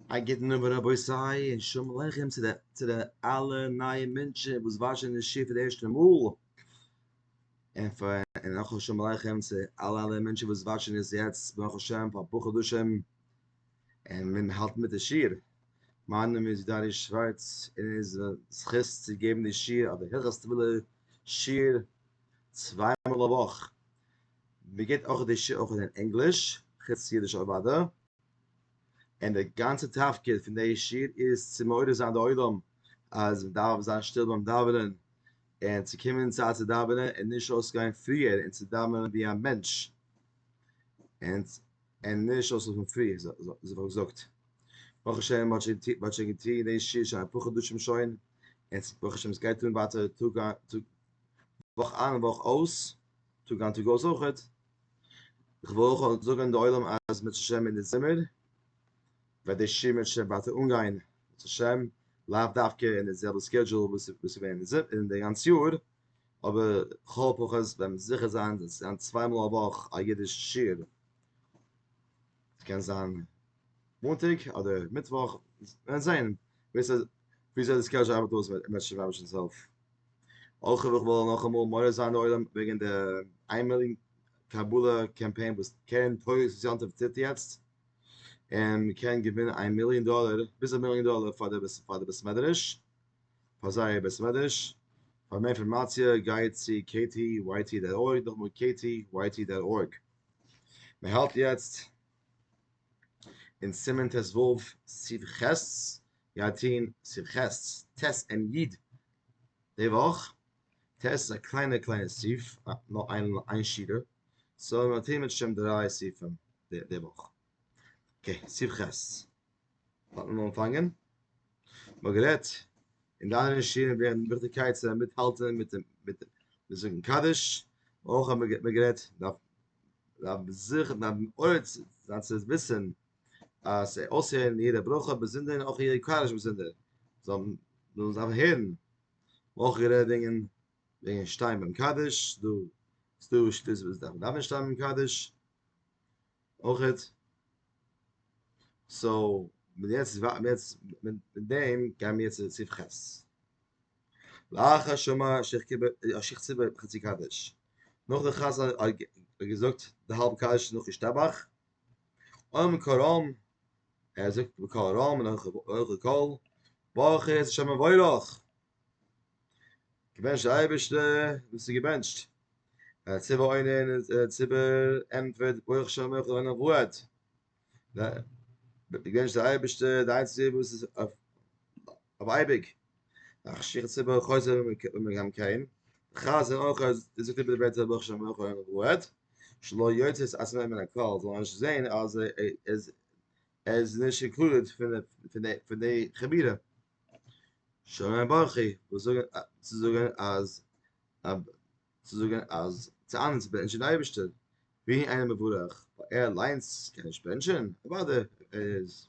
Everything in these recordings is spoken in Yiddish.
א גוטן אויבן רבותי און שלום עליכם צו די צו די אלע נייע מענטשען וואס וואטשען די שיעור פאר די ערשטע מאל, און פאר און אויך א שלום עליכם צו אלע אלע מענטשען וואס וואטשען עס יעצט ברוך השם פאר אפאר חדשים און מען האלט מיט די שיעור, מיין נאמען איז דני שווארץ און עס איז מיין זכות צו געבן די שיעור אדער הלכות טבילה שיעור צוויי מאל א וואך, מען גיבט אויך די שיעור אויך אין ענגליש חוץ אידיש אוודאי. און די גאנצע תפקיד פון די שיר איז צו מעורר זיין די עולם אז מען דארף זיין שטיל ביים דאווענען און צו קומען אין צייט צו דאווענען און נישט אויסגיין פריער און צו דאווענען ווי א מענטש און נישט אויסלאפן פרי אזוי האב איך געזאגט ברוך השם מען האט שוין געטון די שיר שוין אפאר חדשים שוין און ברוך השם עס גייט אן ווייטער טאג איין וואך אויס טאג איין טאג אויס אויכעט. איך וויל אויך זאגען די עולם אז בעז השם אין די זומער וועט די שמות שוין ווייטער אנגיין בעז השם, לאו דווקא אין די זעלבע סקעדזשול וואס איז געווען אין די גאנץ יאר, אבער לכל הפחות וועט מען זוכה זיין צו זיין צוויי מאל א וואך א אידיש שיעור, ס'קען זיין מאנטאג אדער מיטוואך, וועט מען זען וויאזוי די סקעדזשול ארבעט אויס, אויך וויל איך נאכאמאל מעורר זיין די עולם וועגן די איימאליגן קבלה קאמפיין וואס קרן טויס וואס יום טוב טוט יעצט, און מען קען געווינען איין מיליאן דאלער, ביז א מיליאן דאלער פאר די פאר די בית מדרש, פאר זייער בית מדרש, פאר מער אינפארמאציע גייט צו ktyt דאט ארג, נאכאמאל ktyt דאט ארג. מען האלט יעצט אין סימן ט ו, סעיף ח', געטוהן שמחות ת ס אין י ט די וואך, ת ס איז א קליינע קליינע סעיף, נאר איין שורה, סאו מען טוהן מיט שם דריי סעיפים די וואך, אקעי סעיף ח ס האט מען אנגעפאנגען, מען האט גערעדט אין די אנדערע שיעורים וועגן די וויכטיגקייט צו מיטהאלטען מיט מיט זאגן קדיש, אויך האט מען גערעדט דארף מען זיכן דארף מען מעורר זיין צו וויסען אז זיי אויסהערן יעדע ברכה באזונדער און אויך יעדע קארעזש באזונדער זאל זאל זיי הערן אויך גערעדט וועגן וועגן שטיין ביים קדיש דא איז דא שטות וואס דארף מען דארף מען שטיין ביים קדיש אויכעט סאו מיט יעצט מיט יעצט מיט דעם גייען מיר יעצט צו סעיף ח' לאחר שמע שיך קיבל א שיך ציבור חצי קדיש נאך די חזן האט געזאגט די האלב קדיש נאך השתבח אוי מקור רם ער זאגט מקור רם און אויך די קול ברוך איז שם מבורך געבענטשט אייבערשטע דאס איז געבענטשט ער ציבה אוין אין ציבר ענטפערט ברוך שם מבורך און אבוהד געבענטשט אייבערשטע די איינציגסטע וואס איז אבער אייביג מאכן שיכות ציבור חוזר ווען מיר גייען מקיים חז ל אויך אז דאס איז דער בעצם ברוך שם אויך אין רוהט שלא יוצאת אז מען מן הקהל זאל נישט זען אז עס איז נישט אינקלודעד פון די פון די חבירה שומע ברכי וואס זאגן צו זאגן אז צו זאגן אז צו אנדערש בענטשן די אייבערשטער ווי איינער מבורך ער אליינס קען נישט בענטשן אוודאי ער איז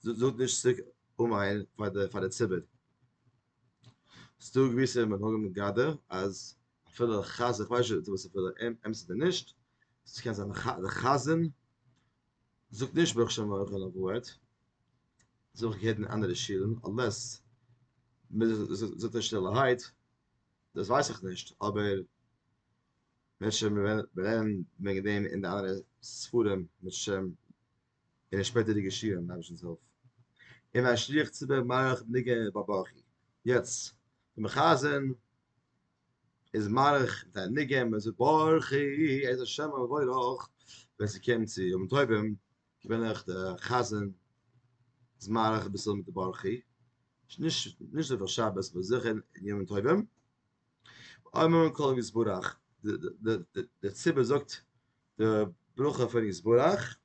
זאגט נישט צוריק אומאיין פאר די פאר די ציבור. ס'דא געוויסע מנהגים אין גדר אז אפילו די חזן, כ'ווייס נישט צו וואס ס'איז אמת אדער נישט, ס'קען זיין די חזן זאגט נישט ברוך שם אויך אויף א ווארט, דאס האב איך געהערט אין אנדערע שולן, אנלעס מ'זאגט עס שטילערהייט, דאס ווייס איך נישט, אבער ווען שוין מיר רעדן וועגן דעם אין די אנדערע ספרים מיט שם אין די שפעטערדיגע שיעור מיט אייבערשטנ'ס הילף אין א שליח ציבור מעריך ניגון ביי ברכי יעצט די מחזן איז מאריך מיט א ניגון מען זאגט ברכי איז א שם מבורך ווען ס'קומט צו ימים טובים בין איך די חזן איז מאריך אביסל מיט די ברכי נישט נישט אויף א שבת אבער זיכער אין ימים טובים. אמר כל יתברך, דער ציבור זאגט די ברכה פון יתברך,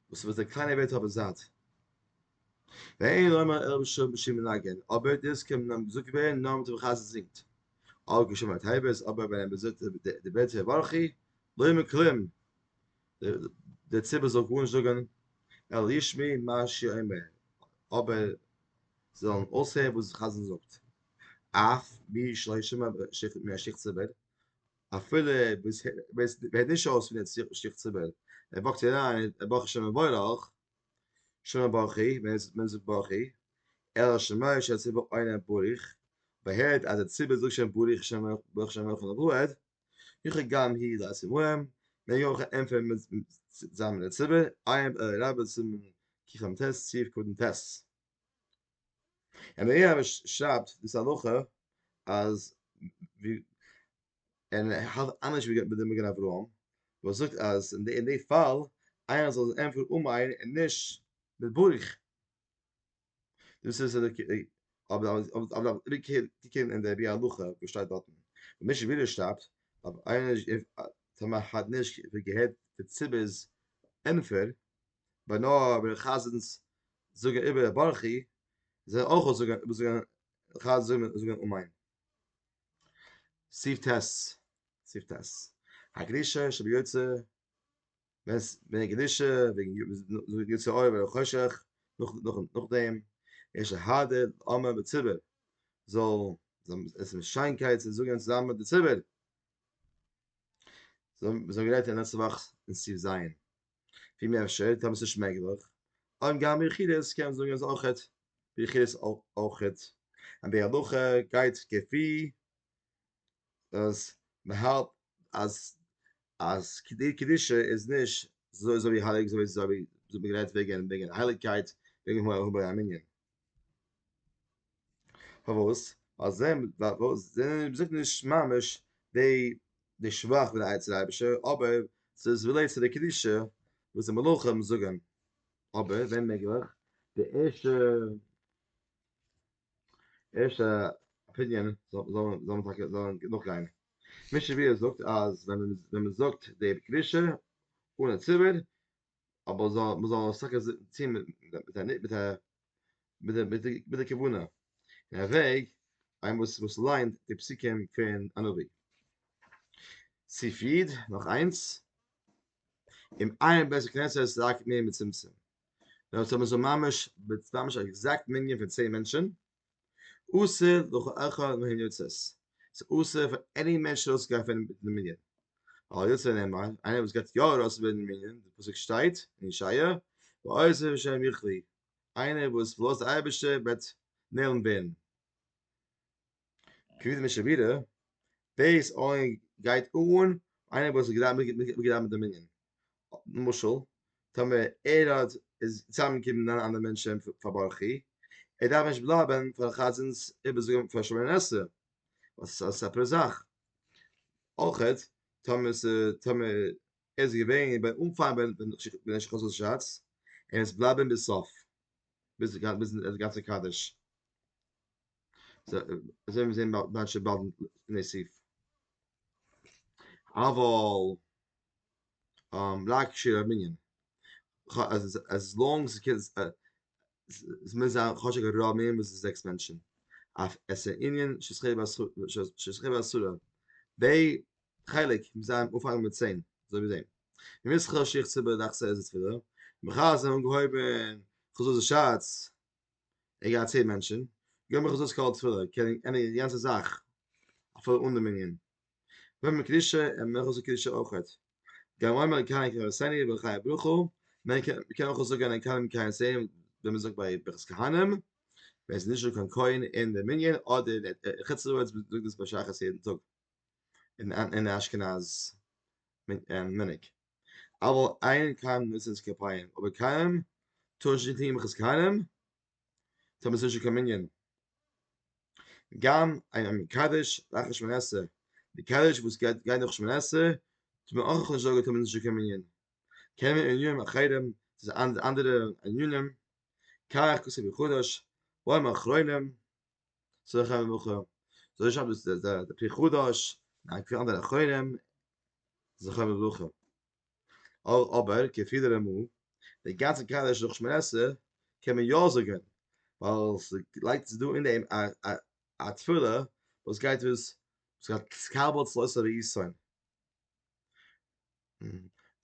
וואס וועט די קליינע ווערט האבן זייט. ואין לומר אלא בשם בשם מנגן, אבער דאס קען נאר געזאגט ווערן נאר מיט ווען די חזן זינגט. אויך געשומער טייבעס, אבער ווען ער זאגט די בעטער ברכי, לוימען כלים, דער ציבור זאל גארנישט זאגן, אלא ישמעו מה שיאמר, אבער זיי זאלן אויסהערן וואס די חזן זאגט, אף מי שלא ישמע מן השיח ציבור, אפילו ווער עס הערט נישט אויס פון דער שיח ציבור, ער וואקט אריין ער ברכט שם מבורך, שם ברכי, מען זאגט ברכי, אלא שמע שהציבור עונה בריך, אויב ער הערט אז דער ציבור זאגט שוין בריך, שם ברכי, שם ברכי, יוכי גאם הי ד עשי מוהם, מען יוכי ה ענפערן מיט זיין מן הציבור, עיין עא רבה סימן קכמ ט סעיף קטן ט. און עיין עא שרייבט דאס הלכה אז ווי און ער האלט אנדערש ווי די מגן אברהם וואס זאגט אז אין די פאל עיין זאל ענפערן אן עיין און נישט מיט ברך. דאס איז די קעי אבער אבער אבער די קעי די קעי אין די בי הלכה וואס שטייט דארטן און מישע ווידער שטאפט אבער איינער איז איף טאמער מען האט נישט געהערט די ציבור'ס ענפער ביי נאר ביי די חזנ'ס זאגן איבער ברכי זאל ער אויך אויס זאגן אויס זאגן חז ל זאל זאגן אמן סי' טז סי' טז הקדישה שביוצא ווען עס ווען די קדושה וועגן יו ווען יצא אור ווען חושך נאך נאך נאך דעם יש האדע אמר בציבור זאל זאל עס מיט שיינקייט צו זאגן צוזאמען מיט די ציבור זאל זאל גרייט אין לעצטע וואך אין סיב זיין ווי מער אפשר טאמער עס איז מעגליך און גאם יחידס קען זאגן אז אויך האט יחידס אויך האט און די הלכה גייט כפי אז מען האלט אז אז די קדושה איז נישט אזוי אזוי הייליג אזוי אזוי ווי מ'האט גערעדט וועגען וועגען הייליגקייט וועגען מו ה ביי א מנין. פארוואס? ווייל זיי זענען ווייל זיי זענען מ'זאגט נישט ממש דעי די שבח פון די אייבישטער אבער ס'איז רילעיט צו די קדושה וואס די מלאכים זאגען אבער ווען מעגליך די ערשטע ערשטע אפיניען זאל זאל מען זאל מען טאקע זאל מען נאכגיין מי שביעי זאגט אז ווען מען ווען מען זאגט די קדושה אן א ציבור אבער זאל מען זאל עס טאקע טון מיט מיט א מיט א מיט די מיט די מיט די כוונה און א וועג איינער וואס וואס ליינט די פסוקים פון א נביא סיף איד נאך איינס און עיין בית הכנסת רק מי מצומצם ווען ס'האט מען זיך ממש ממש א עקזעקט מנין פון צען מענטשען, אסור לכל אחד מהן יוצאת, ס'איז אסור פאר עני מענטש ארויס צו גיין פון די מנין, אבער יוצא נאמר איינער וואס גייט יא ארויס פון די מנין, די פסוק שטייט אין ישעיה, ועוזב השם יכלה, איינער וואס פארלאזט די אייבערשטער וועט נעלם ווערן. כבוד משבירה, דאס אויך גייט אן איינער וואס איז געדרייט מיט די מנין, למשל טאמער ער האט איז צוזאמענגעקומען מיט נײַן אנדערע מענטשען פאר ברכי, ער דארף נישט בלייבען פאר די חזן'ס איבערזאגען פאר שמונה עשרה, וואס איז א סעפערע זאך, אויך טאמער טאמער ער איז געווען ביים אנפאנג ווען ער שכח זיין שאץ, ער מוז בלייבען ביז סוף ביז ביז די גאנצע קדיש. אזוי ווען מיר זעהן באלד שבאלד לפני סוף אבל לייק שעיר מנין עז לאנג עס קען עס מוז זיין כאטש א גראם מער ווי זעקס מענטשן אויף עס איז ענין של שכיב ואסורה ב חלק מוז זיין אנפאנגען מיט צען אזוי ווי דעם ומיסחר שיך צוביי דאכצעך איז עס פילער מחר זענען אנגעהויבען כזאל זיך שאץ ער גייט צעהן מענטשען, געב מיך אזוי סקאלד תפילה, איך קען ענדיגען די גאנצע זאך, אפילו אן די מנין. געב מיר קדושה, ער מעג אויך קדושה אויכעט. גם אומר קיים קיים עשני בחיי ברכו, מען קען אויך זאגען אין קיים קיים עשני ווי מען זאגט ביי ברכת כהנים, ווען ס'איז נישט דא קיין כהן אין די מנין, אדער אין חוץ לארץ וואס מען זאגט דאס בשחרית יעדן טאג אין די אשכנז מנהג. אבל אין קיים נושאין כפיים אבער קיים טוישט נישט קיין יחוס קיינעם טאר מען עס נישט אין קיין מנין גם אין מקדש לאחר שמונה עשרה מקדש וואס גייט גיין נאך שמונה עשרה טאר מען אויך נישט זאגען טאר מען עס נישט אין קיין מנין קען מען אין ימים אחרים אנדערע ענינים קאך כסא בחודש בימים אחרונים זאל איך האבן מוחל זאל איך האבן דאס דער דער פרי חדש א געפיל אנדערע אחרונים זאל איך האבן מוחל אבער כפי דער רמא די גאנצע קאדער שלח שמערעסע קען מען יא זאגן ווייל ס'לייגט זיך דא אין דעם א א א תפילה וואס גייט וואס ס'גייט קבל צלו ס'ער יסוין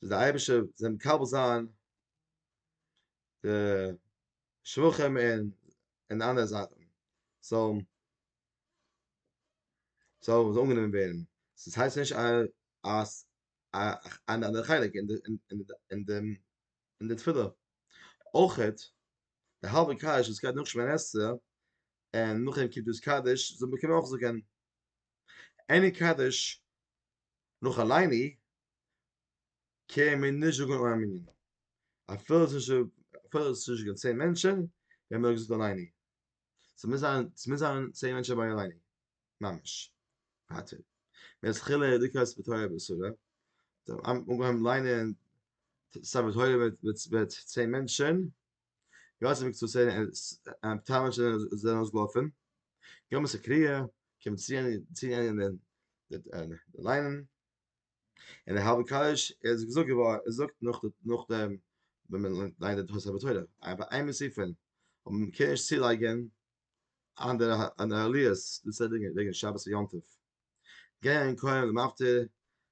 זאל די אייבישע זיין מקבל זיין די שבחים און און אנדערע זאכן זאל זאל אנגענומען ווערן, דאס הייסט נישט אז אן אנדערע חלק אין אין דעם אין די תפילה, אויכעט די האלבע קדיש וואס גייט נאך שמונה עשרה און נאכדעם קומט דאס קדיש זאל מען קענען אויך זאגען עני קדיש נאך עליני קען מען נישט זאגן אן מנין, אפילו עס איז נישט געווען צען מענטשען, ווען מען האט געזאגט אלייני, עס מוז זיין עס מוז זיין צען מענטשען ביי אלייני ממש, ווייטער ווען עס חילו די קענסט מיט תורה ואסורה, אנגעהויבן ליינען ספר תורה מיט צען מענטשען, גאנצע מקצה צען מענטשען זענען אויסגעלאפען, גמ' סקריא קען מען צי ענדיגן ליינען, אין די האבען קאלעדזש איז געזאגט געווארן ער זאגט נאך נאך דעם ווען מען ליינט די תוספות תורה אבער ביי איינע ספרים און מען קען נישט צולייגען אנדערע אנדערע עליות דאס איז וועגען שבת און יום טוב גיי אין כהן למפטיר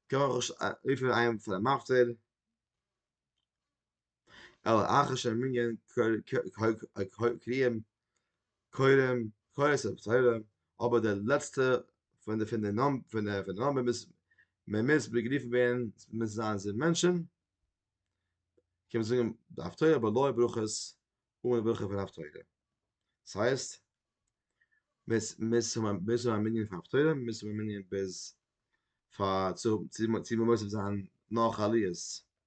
קען מען אויך רופען איינעם פאר א מפטיר אלא אחר שהם מנגן קריאים קוראים קורא ספר תורה, אבער דער לעצטער פון די פון די נאמ פון די פון די נאמבער מוז מען מוז באגריפן ווערן מוז עס זיין זיבן מענטשן, קען מען זאגן די הפטורה אבער לוי' ברכות אן די ברכה פון הפטורה, דאס הייסט מ'איז מ'איז מ'איז א מנין פאר הפטורה מ'איז א מנין ביז פאר צו צו מוסיף זיין נאך עליות.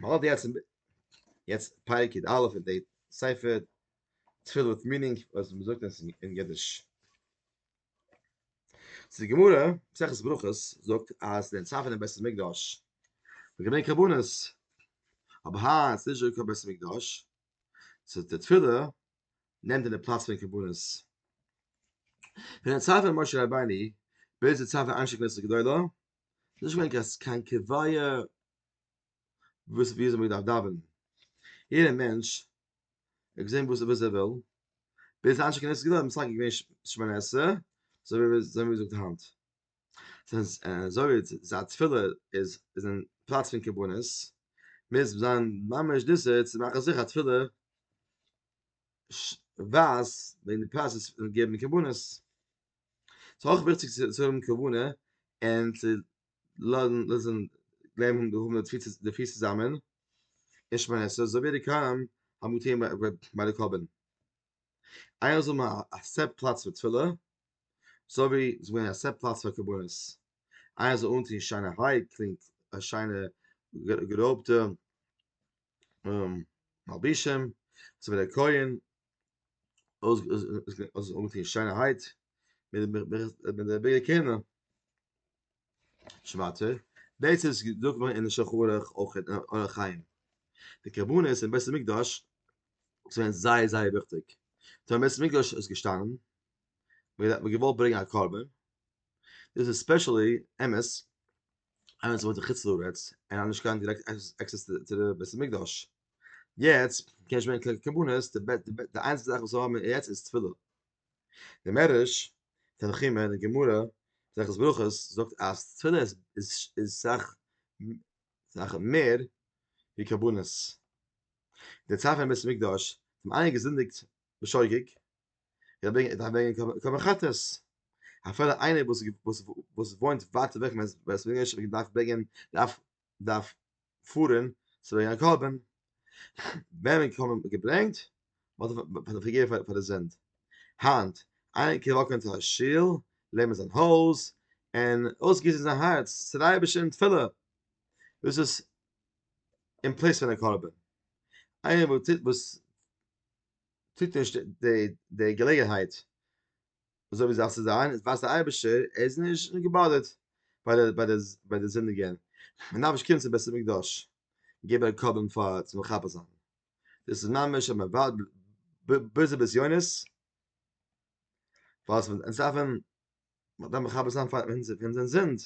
מ'האלט יעצט יעצט פרק יד א' אין די ספר תפילה וויט מינינג וואס מ'זאגט עס אין אידיש. די גמרא, מסכת ברכות, זאגט אז די צוואה פון דעם בית המקדש איז געווען קרבנות, אבער היינט איז נישטא קיין בית המקדש, סאו די תפילה נעמט אין די פלאץ פון קרבנות. פון די צוואה פון משה רבינו ביז די צוואה פון אנשי כנסת גדולה ס'איז נישט געווען קיין קיין קביעה וואס ווי אזוי מ'דארף דאווענען, יעדער מענטש האט געזען וואס וואס ער וויל, ביז היינט שכנס געווען בסך הכל געווען שמונה עשרה, אזוי ווי אזוי ווי מ'זאגט היינט, זינט אזוי ווי ס'איז א תפילה איז איז אין פלאץ פון קרבנות, מוז זיין ממש דאסער צו מאכן זיכער א תפילה ש ווייזט וועגן די פראסעס פון געבן קרבנות. ס'איז אויך וויכטיג צו האבן כוונה און צו לאזן גלייבן האבן די תפיסה די תפיסה צוזאמען אין שמונה עשרה אזוי ווי די קראים האבן געטון ביי די קרבן איינער זאל האבן א סעט פלאץ פאר תפילה אזוי ווי ס'איז געווען א סעט פלאץ פאר קרבנות איינער זאל אנטון שיינע היי קלינג א שיינע גערויבטע מלבישים אזוי ווי די כהן אויס אויס אויס די שיינערהייט מיט דעם מיט דער ביגער קענער שווארצער דאס איז געזאגט געווארן אין שחורח אויך אין אורח חיים די קרבנות אין בית המקדש זענען זייער זייער וויכטיג דער בית המקדש איז געשטאנען מיר האט געוואלט ברענגען א קרבן דאס איז ספעשעלי אמת איינער וואס וואוינט אין חוץ לארץ און האט נישט קיין דירעקט עקסעס צו דער בית המקדש יעצט קען איך מיין קבלות די בעט די בעט די איינציגסטע זאך וואס האבן יעצט איז תפילה די מערש תנחומא אין די גמרא זאגט ברכות זאגט אז תפילה איז איז איז סאך סאך מער ווי קבלות די צייט פון בית מקדש האבן איינער געזינדיגט בשוגג ער דארף ברענגען ער דארף ברענגען קרבן חטאת אפילו איינער וואס וואס וואס וואוינט ווייט אוועק פון בית מקדש דארף ברענגען דארף דארף פארען צו ברענגען א קרבן, וועמען קרבן האט מען געברענגט פאר די פארגעבען פאר די זינד, היינט איינער קען וואקען צו א שול, לערנען זיין הויז, און אויסגיסען זיין הארץ צו די אייבערשטער אין תפילה, דאס איז אין פלעיס פון א קרבן, איינער וואס טוט נישט די געלעגענהייט אזוי ווי זאל עס זיין, איז ווייסט דער אייבערשטער ער איז נישט געבאדערט ביי די זינדיגען, מען דארף נישט קומען צום בית המקדש געבן א קרבן פאר צו מכפר זיין, דאס איז ממש אז מען ווארט בזה בזיונות, ווייל אונז דארפן מכפר זיין פאר אונזער זינד,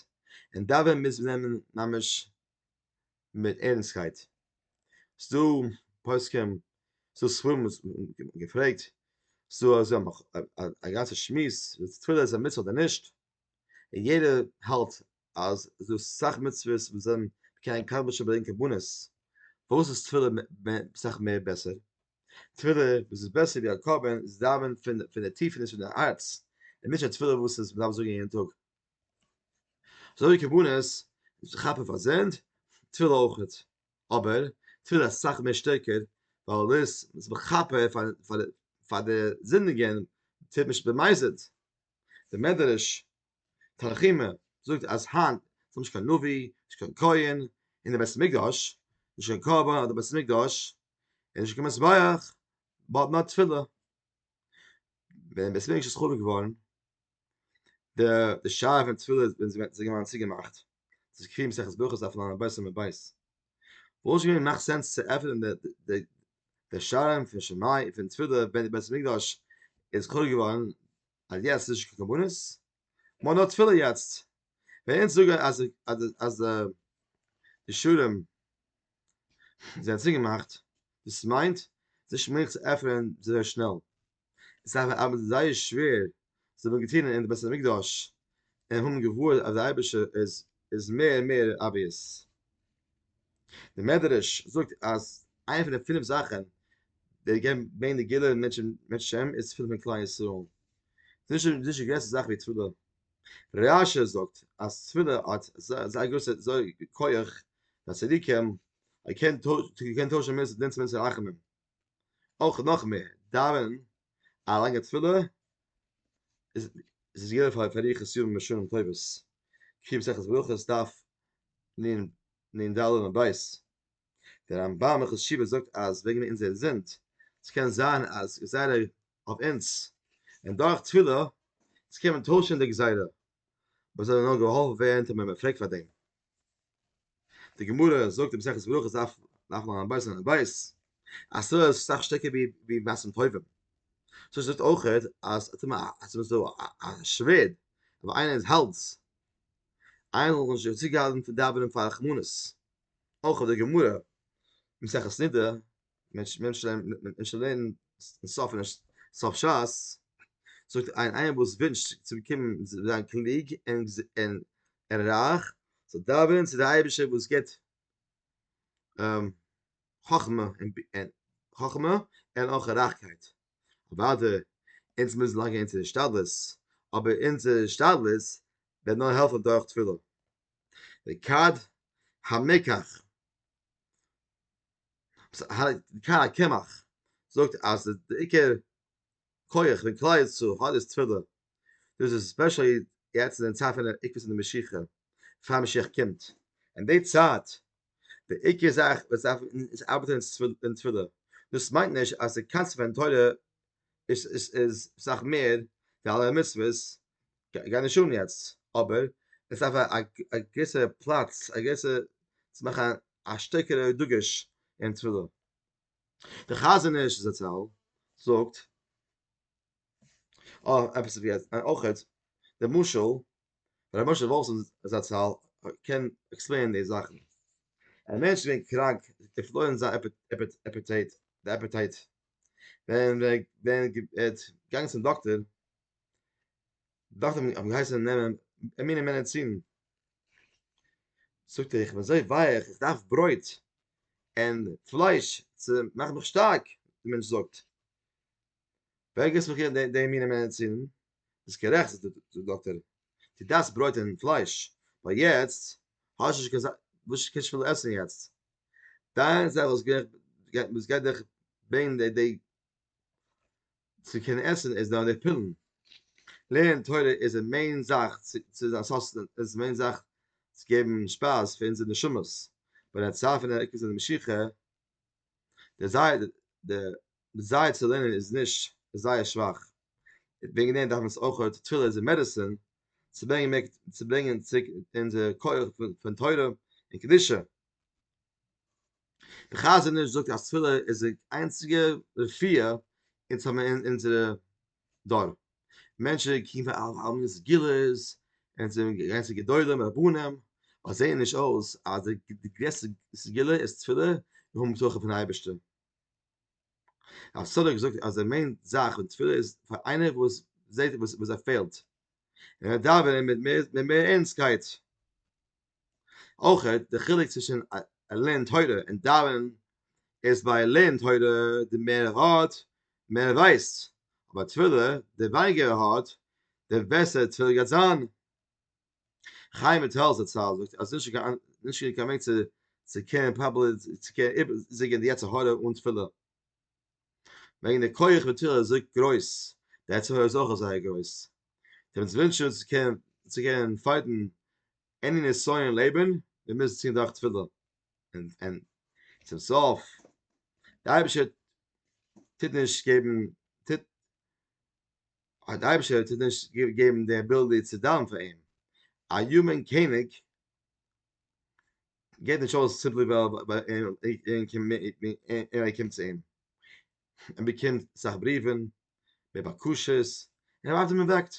און דאווענען מוז מען נעמען ממש מיט ערנסטקייט. ס'דא פוסקים, ס'דא ספרים וואס האבן געפרעגט, ס'דא אז זיי האבן א גאנצע שמועס צו תפילה איז א מצוה אדער נישט, און יעדער האלט אז ס'איז דא סאך מצוות וואס זענען מקיים קדמון ש ברענגען קרבנות, פארוואס איז תפילה סאך מער בעסער? תפילה וואס איז בעסער ווי א קרבן איז דאווענען פון די טיפעניש פון די הארץ, און נישט א תפילה וואס איז מ'דארף זאגן יעדן טאג. אזוי ווי כוונות כאפן פאר זינד, תפילה אויכעט, אבער תפילה איז אסאך מער שטערקער ווייל דאס איז מכפר פאר פאר די זינדיגען, טוט נישט במזיד, די מדרש תנחומא זאגט אז היינט איז נישט קיין לוי, נישט קיין כהן, אין די בית המקדש, נישט קיין קרבן אדער בית המקדש, און נישט קיין מזבח, באט נאר תפילה, ווען בית המקדש איז חרוב געווארן, דער דער שאר פון תפילה ווען זיי וועט זיי געווארן צוגעמאכט צו קריב מסכת ברכות אויף לאנדא בית און בית וואס שוין געווען מאכט סענס צו עפענען דער דער דער שארן פון שמאי פון תפילה ווען דער בית המקדש איז חרוב געווארן אז יעצט נישט קיין קרבנות מאן נאר תפילה יעצט ווען אונז זאגן אז אז אז די שורם זענען צוגעמאכט דאס מיינט נישט מעגליך צו עפענען אזוי שנעל עס איז אבער זייער שווער, זיי האבן געטון אין די בית המקדש און האבן געווארט אז די אייבערשטער איז איז מער און מער אבוויעס. די מדרש זאגט אז איינע פון די פינף זאכן די געבן מער נגילה מענטשן מענטשן איז פילן פון כלל ישראל. ס'איז נישט נישט די גרעסטע זאך ווי תפילה. רש י זאגט אז תפילה האט זייער גרויסע כח ביי צדיקים, ער קען טוישן מענטשן דין צו מענטשן רחמים. אויך נאך מער דאווענען א לאנגע תפילה איז איז געווען פאר פאר אריכות ימים ושנים טובות קרי מסכת ברכות דף נ ד עמוד ב' דער רמב ם הלכות תשובה זאגט אז וועגן אונזערע זינד ס'קען זיין אז גזירה אויף אונז און דורך תפילה קען מען טוישן די גזירה מ'זאל נאר געהאלפן ווערן טאמער מ'פרעגט פאר דעם. די גמרא זאגט אין מסכת ברכות דף דף נ ב סימן ב אז תורה איז סאך שטעקער ווי ווי מעשים טובים. סאו זאגט אויך אז אז מען איז דא א שווערד אבער איינער איז האלץ איינער זאל זיך נישט צוגעהאלטן פון דאווענען פאר רחמנות. אויך האט די גמרא אין מסכת נדה מען זאל לערנען סוף אין סוף שס, זאגט ער איינער וואס ווינטשט צו באקומען זיין קלוג און רייך, זאל דאווענען צו די אייבישטער וואס גיבט חכמה און אויך רייכקייט, אוודאי אונז מוזן לייגן אונזער השתדלות, אבער אונזער השתדלות וועט נאר העלפן דורך תפילה, וכד המקח קה קמח זאגט אז די עיקר כח פון כלל ישראל האט איז תפילה, דאס איז ספעשעלי יעצט אין די צייט פון עיקר פון די משיחה, פאר משיח קומט, אין די צייט די עיקר זאך וואס דארף אונז ארבעטען איז תפילה, דאס מיינט נישט אז די קאנסעפט פון תורה איז איז סאך מער ווי אלע מצוות, גיי נישט אן יעצט, אבער עס דארף א געוויסע פלאץ, א געוויסע צו מאכן א שטערקערע דגוש אין תפילה. דער חזון איש זצל זאגט עפעס ווי אויך די משל ר' משה וואלפסאן זצל קען עקספלעינען די זאכן, א מענטש איז געווען קראנק, ער האט פארלוירן זיין אפעטייט, די אפעטייט ווען ווען ווען געט גאנג צום דאקטער דאכטער האבן געהייסן נעמען א מינע מענעצין זאגט איך וואס זיי ווייעך איך דארף ברויט אין פלייש צו מאכן מיך שטארק די מענטש זאגט ווער געסט מיך די מינע מענעצין איז גערעכט דאקטער די דארפסט ברויט און פלייש, ווייל יעצט האסטו נישט קיין זאך וואס קענסט פיל עסן יעצט, דיין זאך וואס גייט וואס גייט דיך ברענגען די די צו קענען עסן איז דיינע פילן, לערנען תורה איז די מעין זאך צו צו זיין סאסטענען, עס איז די מעין זאך צו געבן שפייז פאר אונזערע נשמות, ביי די צייט פון דער עיקר זיין משיכה. דער זייער דער דעזייער צו לערנען איז נישט איז זייער שוואך וועגן דעם דארף מען עס אויך אויך תפילה איז א מעדעסין צו ברענגען מער צו ברענגען צוריק אונזער כח פון תורה און קדושה דער חזון איש זאגט אז תפילה איז די איינציגע רפואה אונז האבן אין אונזערע דאן מענטשן קוקן פאר אלע מיני סגולות און צו גרויסע גדולים און רבנים וואס זעען נישט אויס אז די גרעסטע סגולה איז תפילה און האבן בטחון פון אייבערשטער. רב סאדוק זאגט אז די מעין זאך פון תפילה איז פאר איינער וואס זעט וואס ער פעלט און ער דאווענען מיט מער ערנסטקייט. אויך די חילוק צווישן א לערנען תורה און דאווענען איז ביי לערנען תורה די מער ער האט מער ער ווייסט אבער תפילה די ווייניגער ער האט די בעסער תפילה גייט זיין חיים וויטאל זצל זאגט אז נישט נישט קיין וועג צו צו קענען פראבעלי צו קענען איבערזיגען די יצר הרע אן תפילה. וועגן די כח וואס תפילה איז אזוי גרויס, די עצם הויז אויך איז זייער גרויס. איך וואלט געוואונטשן אונז צו קענען צו קענען פייטן עני נסיון אין לעבן, מיר מוזן ציען דורך תפילה. און און צום סוף, דער אייבערשטער טוט נישט געבן טוט א דער אייבערשטער טוט נישט געבן די עביליטי צו דאווענען פאר אים. א יומען קעניג געט נישט אויס סימפלי ווייל ער קומט צו אים ער באקומט אסאך בריוון מיט בקשות און ער ווארט און מען וועקט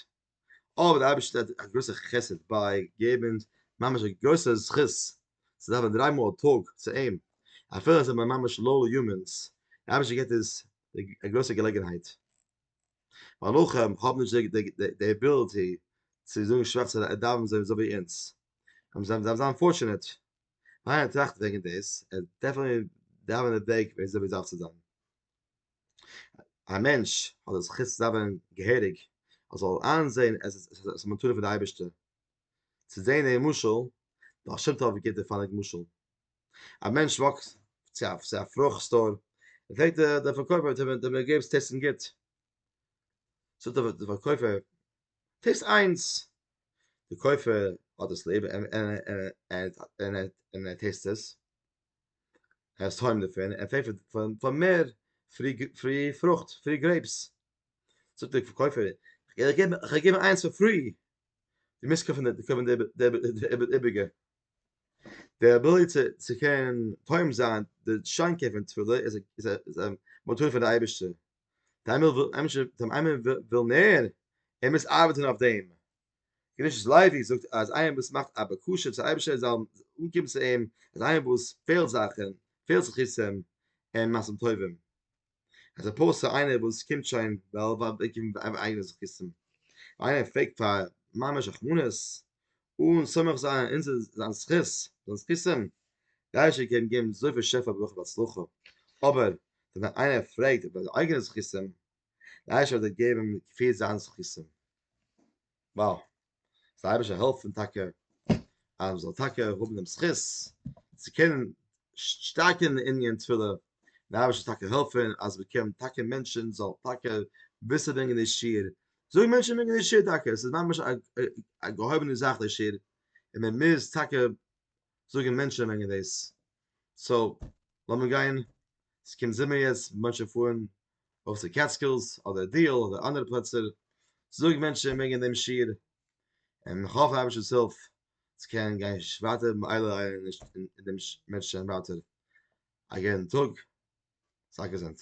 אבער די אייבערשטער האט א גרויסע חסד ביי געבן ממש א גרויסע זכות צו דאווענען דריי מאל א טאג צו אים אפילו אז מ'איז ממש לא יאמינ'ס די אייבערשטער געט אונז א גרויסע געלעגנהייט ווייל רחם האבן נישט די עביליטי צו זאגן שווארצע דאווענען זיי אזוי ווי אונז. אַמ זײַן דאַרף זײַן פֿאָרטשענעט. מײַנער טראַכט װעגן דאָס, ער דאַרף אַ מיר דאַװענען די װעג, װי אַזױ מיר דאַרף צו זײַן. אַ מענטש האָט דאָס זכות צו דאַװענען געהעריק, ער זאָל אײַנזען, עס איז אַ מתּנה פֿון דער אײבערשטער. צו זען דעם משל, דער בעל-שם-טובֿ גיט דער פֿאָלק משל. אַ מענטש װאָקט צו אַ צו אַ פֿרוכט-סטאָר, פֿרעגט דער דער פֿאַרקױפֿער, טאָמער דו מיר גיבסט עסן גוט, זאָגט דער דער פֿאַרקױפֿער, טעסט איינס, די קויפער האט עס ליב און ער טעסט עס, ער איז טועם דערפון, ער פרעגט פאר מער פרי פרוכט, פרי גרעיפס, זאגט די פארקויפער, איך געב דיר איינס פאר פרי, די מוזט קויפן די איבריגע, די אביליטי צו קענען טועם זיין די שאנקען פון תפילה איז א מתנה פון די אייבערשטער. דעם וויל אמש דעם איינער וויל מער ער מוז ארבעטן אויף דעם געוויס לייבי זאגט אז איינער וואס מאכט א בקשה צו אייבערשטער זאל אנקומען צו אים אז איינער וואס פעלט זאכן פעלט זכותים און מעשים טובים אז ער פארט צו איינער וואס קומט שוין וועל וועל באקומען אייגענע זכותים איינער פרעגט פאר ממש רחמנות אן סומך זיין אין זיין זכות, זיין זכותים, גיי איך איר קעגן געבן אזויפיל שפע ברכה והצלחה, אבער ווען איינער פרעגט איבער די אייגענע זכותים, גיי איך איר אדער געבן כפי זיין זכותים. וואו! זאל דער אייבערשטער העלפן טאקע אז מ'זאל טאקע האבן דעם זכות צו קענען שטארקן די ענין תפילה, און דער אייבערשטער זאל טאקע העלפן אז מ'קען טאקע מענטשן זאלן טאקע וויסן ברענגען די שיעור זאגן מענטשן וועגן די שעיר טאקע, עס איז ממש א געהויבענע זאך די שעיר, און מען מוז טאקע זאגן מענטשן וועגן דאס. סאו, לאמיר גיין, עס קומט זומער יעצט, מענטשן פארן ארויף צו קעטסקילס, אדער דיעל, אדער אנדערע פלעצער, זאג מענטשן וועגן דעם שעיר, און איך האף אייבערשטער'ס הילף צו קענען גיין ווייטער מעלה עין און דעם מענטשן ווייטער א גוטן טאג, זיי געזונט.